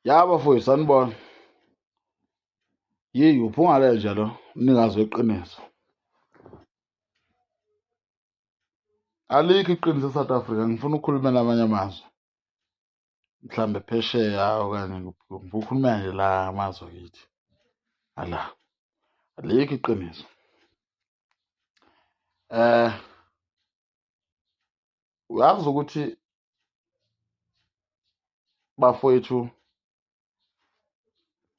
yabo futhi sanibona yiyi uphunga lenja lo mnikazi weqiniso alikho iqiniso e-south africa ngifuna ukukhulumela amanye amazwe mhlawumbe phesheya okanye ngikhulumela nje la amazwe kithi ala alikho iqiniso um uyazi ukuthi bafowethu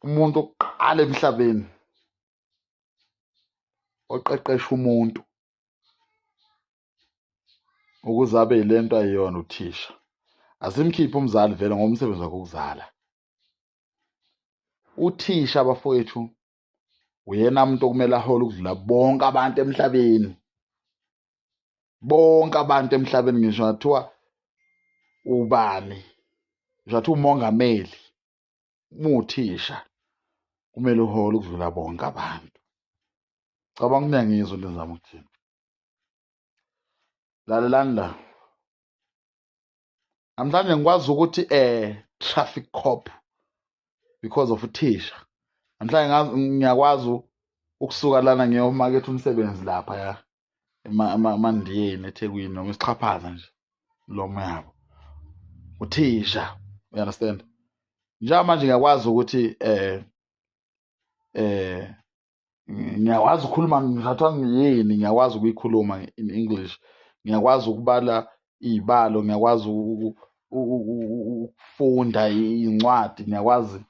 umuntu oqala emhlabeni oqeqesha umuntu ukuze abe yilento ayiyona uthisha asimkhiphe umzali vele ngomsebenzi wakhe ukuzala uthisha abafowethu uyena umuntu okumele ahole ukudlula bonke abantu emhlabeni bonke abantu emhlabeni ngisho ngathiwa ubani ngisho ngathiwa umongameli umuthisha kumele uhole ukudlula bonke abantu cabanga kuyangizwa into engizama ukuthini lalelani la namhlanje ngikwazi ukuthi eh traffic cop because of uthisha namhlanje ngiyakwazi ukusuka lana ngiyomaketha umsebenzi lapha ya emandiyeni ethekwini noma isixhaphaza nje lomo yabo uthisha you understand njengamanje ngiyakwazi ukuthi eh eh ngiyakwazi ukukhuluma ngithathwa ngiyini ngiyakwazi ukuyikhuluma in english ngiyakwazi ukubala iy'balo ngiyakwazi ukufunda iy'ncwadi ngiyakwazi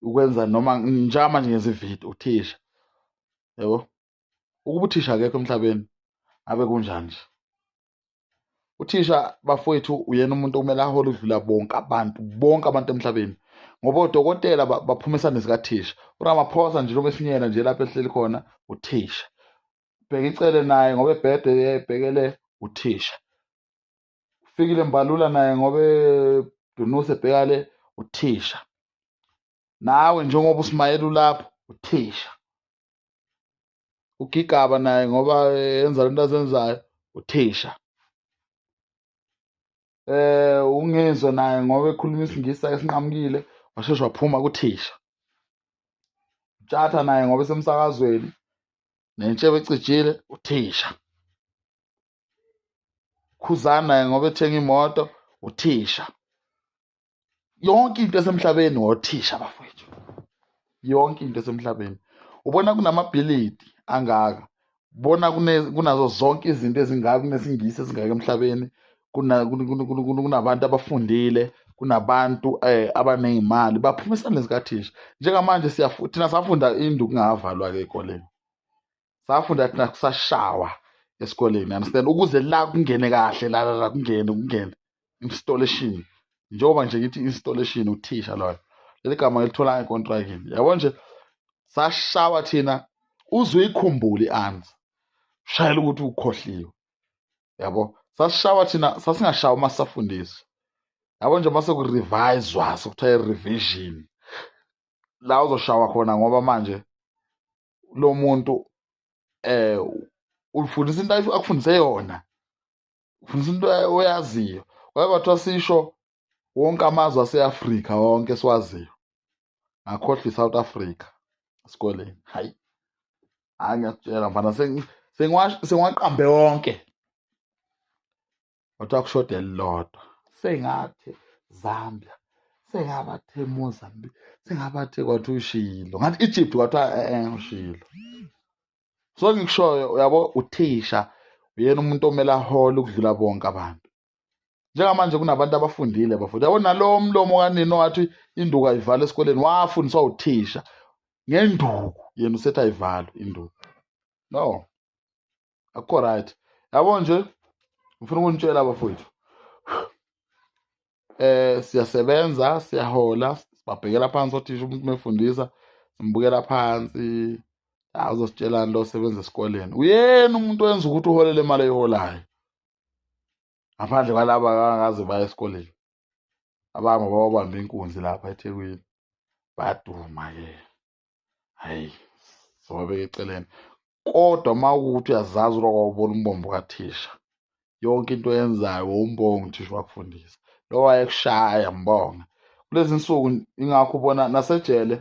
ukwenza noma njalo manje ngenza ividiyo uthisha yebo ukuba uthisha akekho emhlabeni ngabe kunjani nje uthisha bafowethu uyena umuntu okumele ahole udlula bonke abantu bonke abantu emhlabeni ngoba odokotela baphuma esandleni sikathisha uramaphosa nje noma esinyela nje lapho ehleli khona uthisha bheka icele naye ngoba ebhede ebhekele uthisha ufikile mbalula naye ngoba edunuse ebhekale uthisha nawe njengoba usimayela ulapho uthisha ugigaba naye ngoba yenza lento azenzayo uthisha eh ungezwe naye ngoba ekhuluma isingisi esinqamukile washeshe waphuma kuthisha tshatha naye ngoba esemsakazweni nentshebe ecijile uthisha khuzana naye ngoba ethenga imoto uthisha yonke into esemhlabeni ngothisha bafowethu yonke into esemhlabeni ubona kunamabhilidi angaka bona kunazo zonke izinto ezingaka kunesingisi esingaka emhlabeni kunabantu abafundile kunabantu eh, abaney'mali baphuma esandleni sikathisha njengamanje thina safunda induku ingavalwa-ke ey'koleni safunda thina kusashawa esikoleni understand ukuze la kungene kahle la la kungene kungene installation njengoba nje ngithi installation uthisha loyo leli gama ngilithola econtrakini yabo nje sashawa thina uze uyikhumbule i-answer shayela ukuthi ukhohliwe yabo sasishawa thina sasingashawa uma sisafundisa yabo nje uma sekurivayizwa sekuthiwa i-revision la uzoshawa khona ngoba manje lo muntu eh ulifundisa into akufundise yona ufundisa into oyaziyo kwaye kwathiwa sisho wonke amazwe aseAfrika wonke siwaziyo ngakhohlwa iSouth Africa esikoleni hayi hayi ngiyakutshela mfana sengiwaqambe wonke kodwa kushoda elilodwa sengathi Zambia sengabathe Mozambique sengabathe kwathi ushilo ngathi Egypt kwathi eh, eh ushilo so ngikushoyo uyabo uthisha uyena umuntu omele ahole ukudlula bonke abantu njengamanje kunabantu abafundile bafunda yabo nalowo mlomo kanini wathi induku ayivala esikoleni wafundiswa uthisha ngenduku yena usethi ayivalwe induku no akukho right yabo nje ngifuna ukunitshela abafowethu eh siyasebenza siyahola sibabhekela phansi othisha umuntu mefundisa simbukela phansi azositshelani lo sebenza esikoleni uyena umuntu wenza ukuthi uholele imali eyiholayo ngaphandle kwalaba akaze baya esikoleni abama babamba inkunzi lapha ethekwini baduma ke hayi zowabeka eceleni kodwa uma ukuthi uyazazi uba kwawubona umbombo kathisha yonke into oyenzayo wowumbonga uthisha wakufundisa lo wayekushaya mbonga kulezi nsuku ingakho ubona nasejele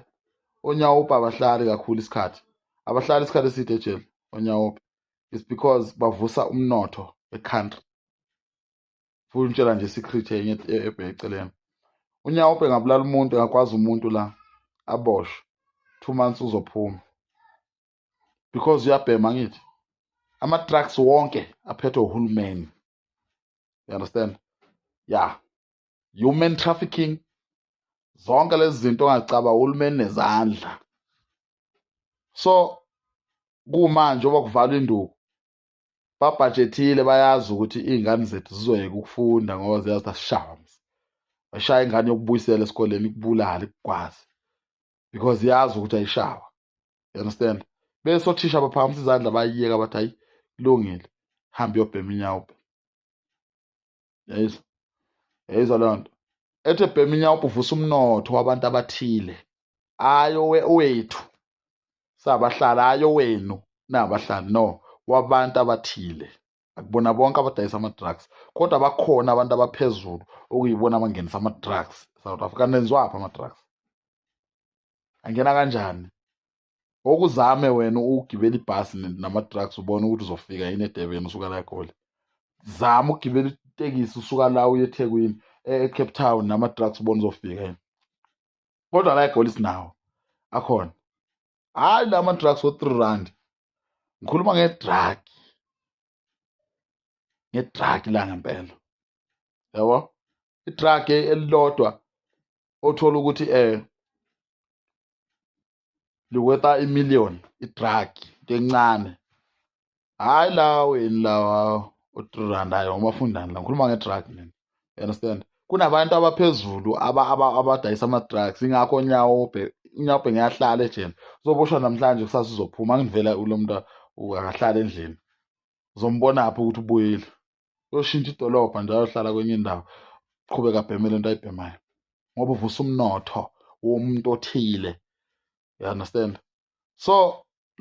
onyawupa abahlali kakhulu isikhathi abahlali isikhathi eside ejele onyawupa is because bavusa umnotho e-country futhi ngitshela nje secret enye ebheceleni unyawo ubhe ngabulala umuntu engakwazi umuntu la aboshwe two months uzophuma because uyabhema ngithi ama-trucks wonke aphethwe uhulumeni you understand ya human trafficking zonke lezi zinto ongacaba uhulumeni nezandla so kumanje oba kuvala induku babhajethile bayazi ukuthi iy'ngane zethu zizoyeka ukufunda ngoba ziyazi ukuthi asishaya mzi bashaya ingane yokubuyisela esikoleni ikubulale ikugwaze because yazi ukuthi ayishawa you understand bese othisha baphakamisa izandla bayiyeka bathi hayi kulungile hambe uyobhema inyawo yayizwa yayizwa leyo nto ethe bhema inyawubha uvusa umnotho wabantu abathile ayo wethu sabahlala ayo wenu nabahlali no wabantu abathile akubona bonke abadayisa ama-drugs kodwa bakhona abantu abaphezulu okuyibona abangenisa ama-drugs south africa nenziwaphi ama-drugs angena kanjani okuzame wena ukugibela ibhasi nama-trucks ubone ukuthi uzofika yini edebeni usuka la egoli zama ukugibela itekisi usuka la uye ethekwini e-, ecape town nama-trucks ubone uzofika yini kodwa la egoli sinawo akhona hhayi la ma-trucks o-three rand ngikhuluma ngedraki ngedraki la ngempela yabo idraki elilodwa othola ukuthi um likweta imillion idrag kencane hhayi lawa weni lawa u-three rand ayo umafundani la ngikhuluma ngedrag mina you understand kunabantu abaphezulu abadayisa ama-drugs ingakho unyawobhe unyawobhe ngiyahlala ejele uzoboshwa namhlanje kusasa uzophuma angivela kulo mntu akahlala endlini uzombonaphi ukuthi ubuyile uyoshintsha idolobha nje ayohlala kwenye indawo qhubeka abheme le nto ayibhemayo ngoba uvusa umnotho womuntu othile you understand so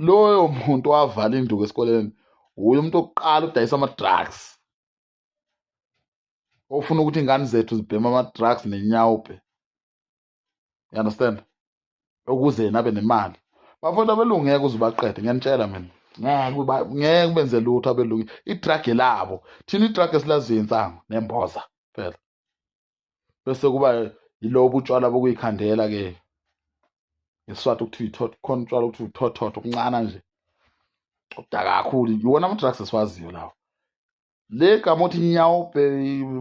loyo muntu wavala induku esikoleni wuye umuntu okuqala udayisa ama-drugs ofuna ukuthi ingane zethu zibhema ama-drugs nenyawubhe you understand ukuze yena abe nemali bafowethu abelungu ngeke uze ubaqede ngiyanitshela mina ngeke ubenze lutho abelungu idrage labo thina idrage esilaziyo insango nemboza phela bese kuba yilobo utshwala bokuyikhandela ke ngesiswati okuthiwa ithotho khona utshwala okuthiwa uthothotho okuncana nje obudaka kakhulu iwona ama-drugs esiwaziyo lawo le gama othi nyawubhe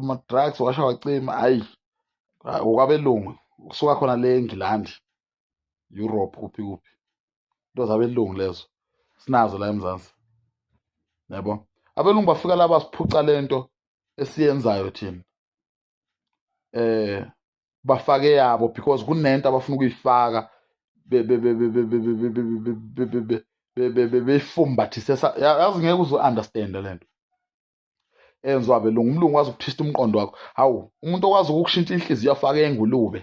ma-drugs washa wacima hhayi okwabelungu kusuka khona le engilandi europe kuphi kuphi into zabelungu lezo sinazo la emzansi yabo abelungu bafika la basiphuca le nto esiyenzayo thina eh bafake yabo because kunento abafuna ukuyifaka beyifumbathise yazi ngeke uze understand lento enziwa belungu umlungu wazi ukuthista umqondo wakho hawu umuntu okwazi ukukushintsha inhliziyo afake engulube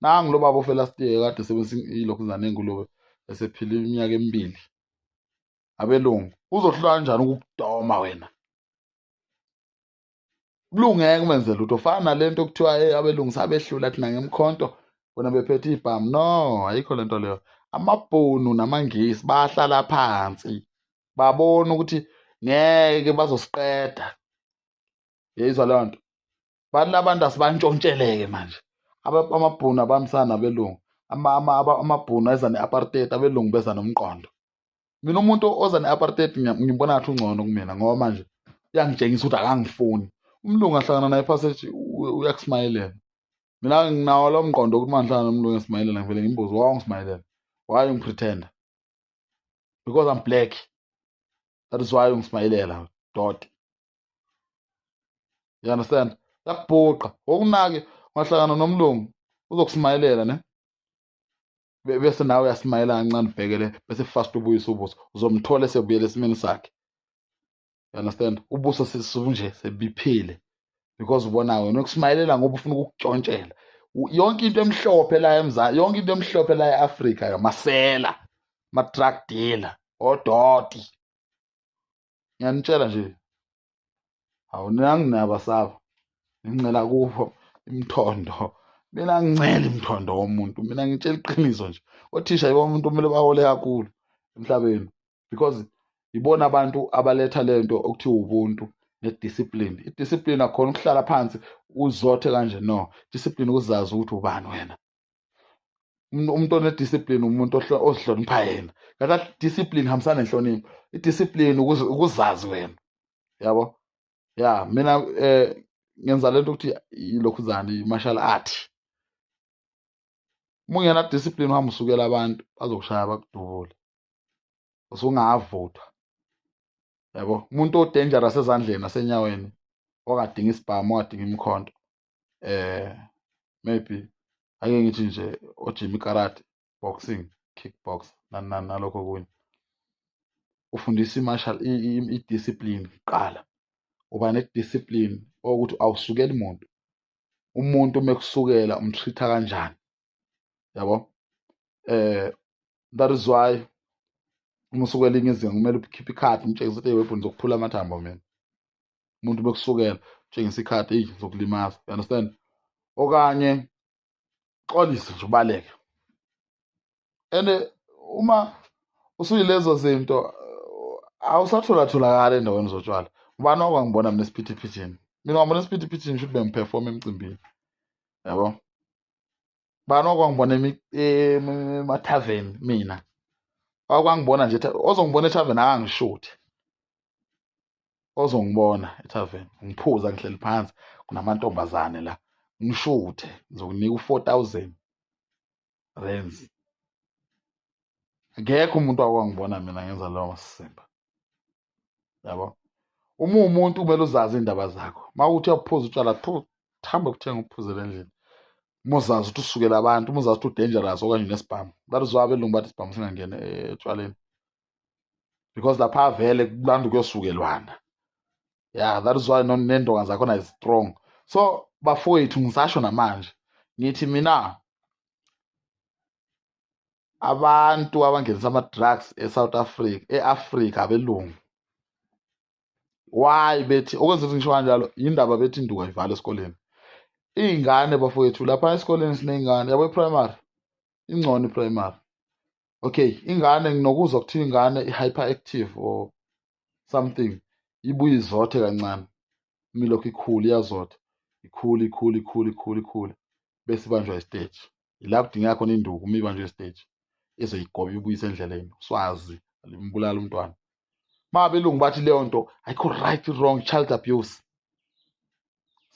nangu lo baba ofela stiye kade sebenzisa ilokhu zane engulube esephila iminyaka emibili abelungu uzohlula kanjani ukukudoma wena kulungeke umenze lutho fana nalento okuthiwa hey abelungisa abehlula thina ngemkhonto bona bephethe ibhamu no ayikho lento leyo amabhunu namangisi bahlala phansi babona ukuthi ngeke bazosiqeda yeyizwa leyo nto bathi labantu asibantshontsheleke manje amabhunu abambisana nabelungu amabhunu eza ne-apartheid abelungu beza nomqondo mina umuntu oza ne-apartheid ngimbona ngathi ungcono kumina ngoba manje uyangitshengisa ukuthi akangifuni umlungu ahlangana naye phasi ethi uyakusimayelela mina nginawo lo mqondo ukuthi mangihlangana nomlungu esimayelela ngivele ngimbuze wa ungisimayelela why ungipretenda because i'm black that is why ungisimayelela doti you understand yakubhuqa wokunake ungahlangana nomlungu uzokusimayelela ne bese nawe uyasimayela kancane ubhekele bese fast ubuyisa ubuso uzomthola esebuyela esimeni sakhe you understand ubuso sisunje sebiphile because ubona wena ukusimayelela ngoba ufuna ukukutshontshela yonke into emhlophe la emzansi yonke into emhlophe la e-afrika yamasela ma-drug dealer odoti ngiyanitshela nje hawu nanginaba sabo ngincela kubo imthondo mina ngincela imthondo womuntu mina ngitshela iqiniso nje othisha yibo umuntu kumele bahole kakhulu emhlabeni because yibona abantu abaletha le nto okuthiwa ubuntu nediscipline idiscipline akhona ukuhlala phansi uzothe kanje no discipline ukuzazi ukuthi ubani wena umuntu onediscipline umuntu ozihlonipha yena ngaka discipline hambisana nenhlonipho idiscipline ukuzazi wena yabo ya mina eh ngenza lento ukuthi ilokhuzane martial art mungena discipline uhamba usukela abantu bazokushaya bakudubule usungavutha yabo umuntu odangerous ezandleni asenyaweni ongadinga isibhamu ongadinga imikhonto eh maybe ake ngithi nje ojimi karate boxing kickbox nalokho kunye ufundisa i-martial i-discipline kuqala uba ne-discipline okuthi awusukeli muntu umuntu uma ekusukela umtreat-a kanjani yabo eh that is why uma usuke elinye izinga kumele ukhiphe ikhadi umtshengise ukuthi weapon zokuphula amathambo mina umuntu bekusukela utshengisa ikhadi eyi zokulimaza you understand okanye xolise nje ubaleke and eh, uma usuyilezo zinto eh, awusatholatholakali endaweni zotshwala ubani wakwangibona mina esiphithiphithini mina wabona esiphithiphithini shuthi bengiphefoma emcimbini yabo bani wakwangibona emathaveni mina wakwangibona nje ozongibona ethaveni akangishuthi ozongibona ethaveni ngiphuza ngihleli phansi kunamantombazane la ngishuthe ngizokunika u-four thousand rands akekho umuntu akwangibona mina ngenza lowo masimba yabo uma umuntu kumele uzazi iy'ndaba zakho uma uthi uyaphuza utshwala thambe kuthenga uphuzela endlini uma uzazi ukuthi usukela abantu uma uzazi ukuthi udangerous okanye unesibhamu that is why abelungu bathi isibhamu singangeni eh, etshwaleni because lapha avele kulanda ukuyosukelwana ya that is why nendonga zakhona is strong so bafowethu ngisasho namanje ngithi mina abantu abangenisa ama-drugs e-south africa e-afrika abelungu why bethi okwenza ukuthi ngisho kanjalo yindaba bethi induku ayivale esikoleni iy'ngane bafowethu lapha esikoleni siney'ngane yabo i-primary ingcono i-primary okay ingane nginokuzwa kuthiwa ingane i-hyper active or something ibuye izothe kancane imilokhu ikhulu iyazotha ikhulu ikhulu ikhulu ikhulu ikhulu bese ibanjwa isiteji yila kudingeka khona induku uma ibanjwa isiteji ezoyigoba ibuyise endleleni uswazi limbulala umntwana ma belungu bathi leyo nto ayikho right wrong child abuse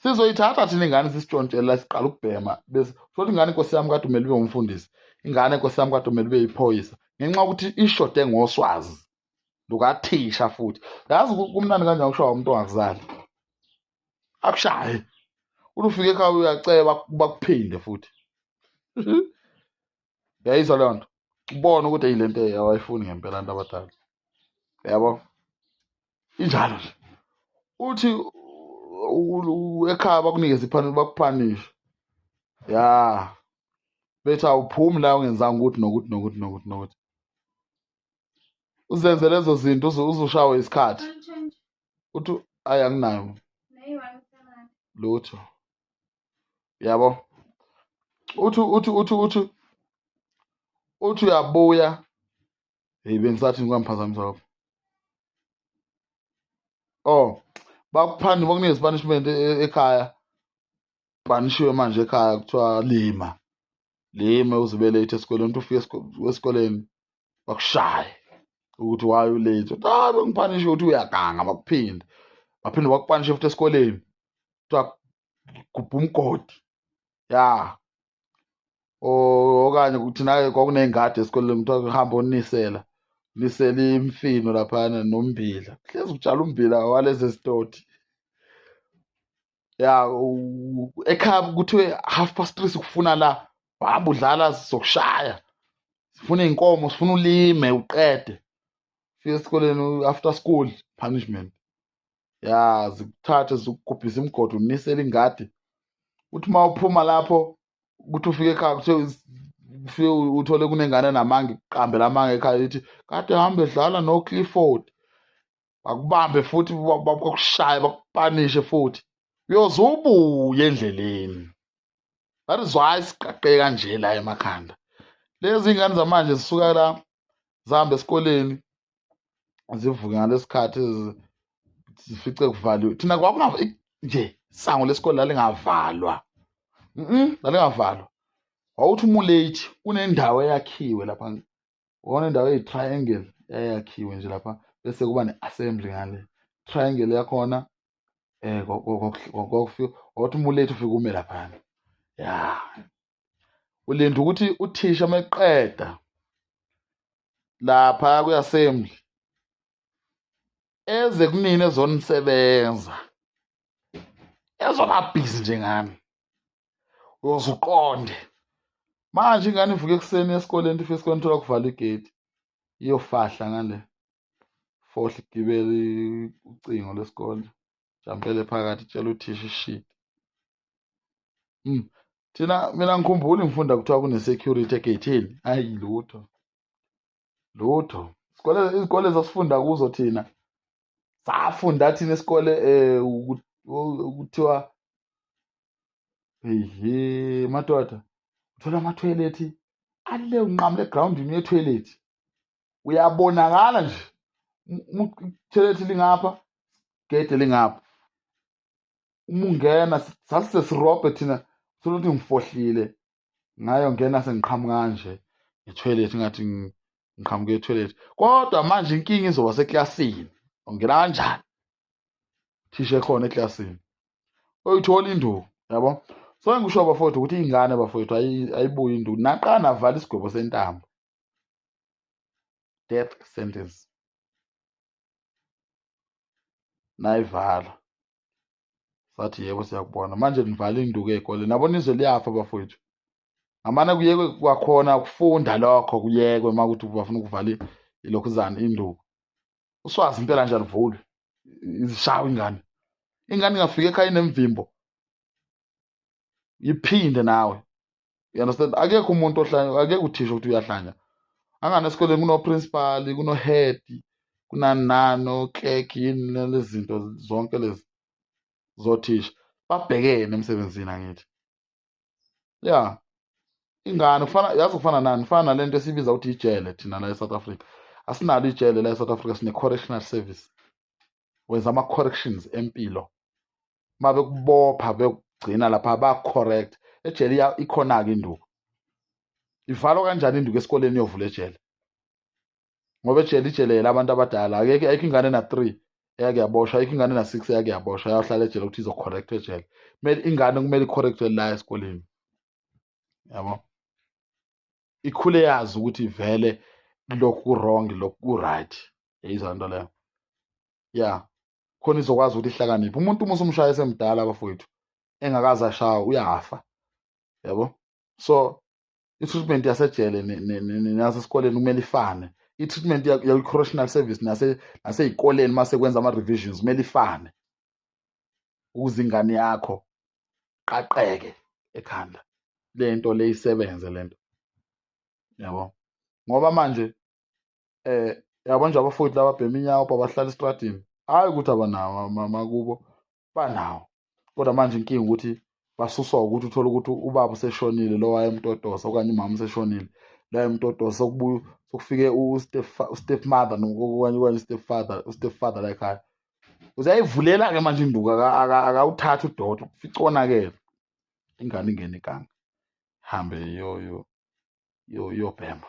sizoyithatha thina ingane sisitshontshela siqala ukubhema bese futhi ingane inkosi yami kade umele ube umfundisi ingane inkosi yami kade umele ube yiphoyisa ngenxa yokuthi ishode ngoswazi lukathisha futhi yazi kumnandi kanjani kushawa umuntu ongakuzali akushaye ulufika ekhaya uyaceba bakuphinde futhi yayizwa leyo nto ubone ukuthi yile nto awayifuni ngempela abantu abadala yabo injalo nje uthi ekhaya bakunikeza iphaneli bakuphanishe ya bethi awuphumi la ungenzanga ukuthi nokuthi nokuthi nokuthi nokuthi uzenze lezo zinto uzushawe isikhathi uthi ayi anginayo lutho yabo uthi uthi uthi uthi uthi uyabuya hey bengisathi ngikwamphazamisa lapho oh bakuphanda uma kunezipanish ekhaya banishiwe manje ekhaya kuthiwa lima lime uzibe late esikoleni uthi ufike esikoleni bakushaye ukuthi why u late uthi ah bengipanishe ukuthi uyaganga bakuphinde baphinde bakupanishe futhi esikoleni kuthiwa gubha umgodi ya okanye kuthi naye kwakuney'ngadi esikoleni kuthiwa hamba onisela nisela imfino laphana nombila hlezi kutshala umbila walezi zitoti ya ekhaya kuthiwe half past three sikufuna la hamba udlala sizokushaya sifuna iy'nkomo sifuna ulime uqede fika esikoleni after school punishment ya zikuthathe zikugubhise imigodi unisele ingadi uthi uma uphuma lapho ukuthi ufike ekhaya kuthiwe ufike uthole kunengane namange kuqambela amange ekhaya lithi kade hambe dlala noclifford bakubambe futhi bakushaye bakupanishe futhi uyoze ubuye endleleni that is why siqaqe kanje la emakhanda lezi ngane zamanje zisuka la zihambe esikoleni zivuke ngalesikhathi zifice kuvaliwe thina kwakunga nje sango lesikole lalingavalwa mhm lalingavalwa wawuthi umulate kunendawo eyakhiwe lapha ubona indawo eyi-triangle yayakhiwe nje lapha bese kuba ne-assembly ngale triangle yakhona eh kwakufika wathi umulethe ufike ume laphana ya ulinda ukuthi uthisha uma eqeda lapha kwi-assembly eze kunini ezonisebenza ezobabhizi njengami uyoze uqonde manje ingane ivuke ekuseni esikoleni ife esikoleni thola kuvala igate iyofahla ngale fohle igibele ucingo lesikole jampele phakathi itshela uthisha ishidi mm. thina mina ngikhumbuli ngifunda kuthiwa kune-security egeyithini ayi lutho lutho izikole zasifunda kuzo thina safunda thina esikole eh ukuthiwa ehe madoda uthola ama toilet ale unqamule ground ni toilet uyabonakala nje toilet lingapha gede lingapha uma ungena sasise sirobhe thina soluthi ngifohlile ngayo ngena sengiqhamuka kanje ngetoilet ngathi ngiqhamuke etoilet kodwa manje inkinga izoba seklasini ungena kanjani thisha ekhona eklasini oyithola induku yabo so engikusho bafowethu ukuthi iy'ngane bafowethu ayibuye induku naqala navala isigwebo sentambo death sentence nayivala sathi yebo siyakubona manje nivala induku ey'kole nabo nizwe liyafa bafowethu ngamane kuyekwe kwakhona ukufunda lokho kuyekwe uma kuthi bafuna ukuvala ilokhuzane induku uswazi impela nje alivulwe izishawa ingane ingane ingafika ekhaya inemvimbo yiphinde nawe you understand akekho umuntu ohlanya akekho uthisha ukuthi uyahlanya angane esikoleni kunoprincipali kunohead kunani nani oclerk yini lezi zinto zonke lezi zothisha babhekene emsebenzini angithi ya ingane kufana yazi kufana nani kufana nale nto esibiza ukuthi ijele thina la e-south africa asinalo ijele la e-south africa sine-correctional service wenza ama-corrections empilo uma bekubopha bekugcina lapha bacorrect ejele ikhona-ke induku ivalwa kanjani induku esikoleni iyovula ejele ngoba ejele ijele yela abantu abadala akekho ayikho ingane na-three eyake yaboshwa ayikho ingane na-six eyake yaboshwa yayohlala ejele ukuthi izocorrect ejele kumele ingane kumele icorrectwe la esikoleni yabo ikhule yazi ukuthi vele lokhu ku-wrong lokhu ku-right yeyizwa nto leyo ya khona izokwazi ukuthi ihlakaniphe umuntu uma usumshaya esemdala abafowethu engakaze ashawa uyafa yabo so i-treatment yasejele nasesikoleni kumele ifane i-treatment yakwi-correctional service naseyikoleni uma sekwenza ama-revisions kumele ifane ukuze ingane yakho qaqeke ekhanda le nto le isebenze le nto yabo ngoba manje eh yabo nje abafowethu laba bhema inyawo babahlala estradini hayi ukuthi abanawo makubo banawo kodwa manje inkinga ukuthi basuswa ukuthi uthole ukuthi ubaba useshonile lo wayemtotosa okanye umama useshonile lo wayemtotosa sokubuya sokufike ustep mother okanye okanye ustep father ustep father la ekhaya uzayivulela-ke manje induku akawuthathi udoda ufica onakele ingane ingene iganga hambe yobhema